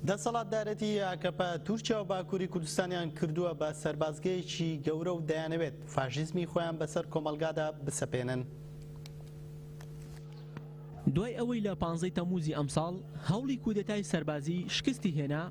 دەسەڵاتدارێتی ئاکەپە تورکیا و باکووری کوردستانیان کردووە بە سەربازگەیەکی گەورە و دەیانەوێت فاشیزمی خۆیان بەسەر کۆمەڵگادا بسەپێنن. دوای ئەوەی لە پانزەی تەمووزی ئەمساڵ هەوڵی کودەتای سەربازی شکستی هێنا،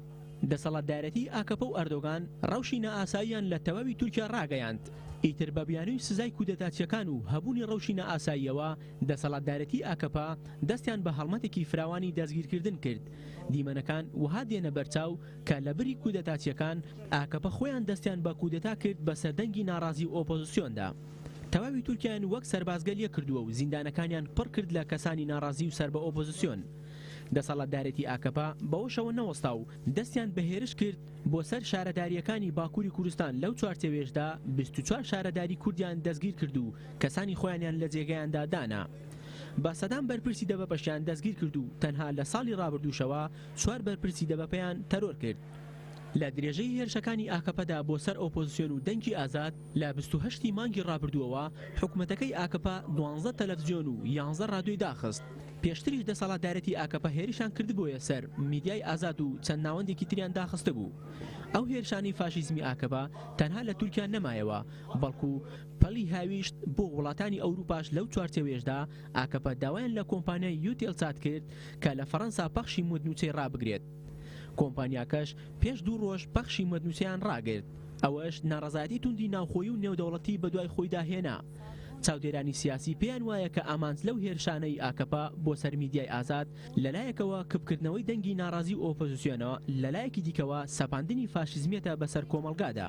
دەسەڵاتدارێتی ئاکەپە و ئەردۆگان رەوشی نائاساییان لە تەواوی تورکیا راگەیاند، ئیتر بە بیانووی سزای کودەتاچییەکان و هەبوونی رەوشی نائاساییەوە، دەسەڵاتدارێتی ئاکەپە دەستیان بە هەڵمەتێکی فراوانی دەستگیرکردن کرد، دیمەنەکان وەها دێنە بەرچاو کە لە بری کودەتاچیەکان، ئاکەپە خۆیان دەستیان بە کودەتا کرد بەسەر دەنگی ناڕازی و ئۆپۆزسیۆندا. تەواوی تورکیایان وەک سەربازگەل یەک کردووە و زیندانەکانیان پڕ کرد لە کەسانی ناڕازی و سەر بە ئۆپۆزسیۆن. دەسەڵاتدارێتی ئاکەپە بەوەشەوە نەوەستا و دەستیان بە هێرش کرد بۆ سەر شارەداریەکانی باکوری کوردستان لەو چوارچێوەیەشدا بیست و چوار شارەداری کوردیان دەستگیر کرد و کەسانی خۆیانیان لە جێگەیاندا دانا. بە سەدان بەرپرسی دەبەپەشیان دەستگیرکرد و تەنها لە ساڵی رابردووشەوە چوار بەرپرسی دەبەپیان تەرۆر کرد. لە درێژەی هێرشەکانی ئاکەپەدا بۆ سەر ئۆپۆزسیۆن و دەنگی ئازاد، لە بیست و هەشت ی مانگی رابردووەوە حکومەتەکەی ئاکەپە دوانزدە تەلەفزیۆن و یانزە رادیۆی داخست. پێشتریش دەسەڵاتدارێتی ئاکەپە هێرشیان کردبوویە سەر میدیای ئازاد و چەند ناوەندێکی تریان داخستبوو. ئەو هێرشانەی فاشیزمی ئاکەپە تەنها لە تورکیا نەمایەوە، بەڵکو. پەلی هاویشت بۆ وڵاتانی ئەوروپاش لەو چوارچێوەیەشدا ئاکەپە داوایان لە کۆمپانیای یوتێلسات کرد کە لە فەرەنسا پەخشی مدنوچەی ڕابگرێت کۆمپانیاکەش پێش دوو ڕۆژ پەخشی مدنوچەیان ڕاگرت ئەوەش ناڕەزایەتی توندی ناوخۆیی و نێودەوڵەتی بەدوای خۆیدا هێنا چاودێرانی سیاسی پێیان وایە کە ئامانج لەو هێرشانەی ئاکەپە بۆ سەر میدیای ئازاد لەلایەکەوە کپکردنەوەی دەنگی ناڕازی و ئۆپۆزسیۆنە لەلایەکی دیکەوە سەپاندنی فاشیزمیەتە بەسەر کۆمەڵگادا.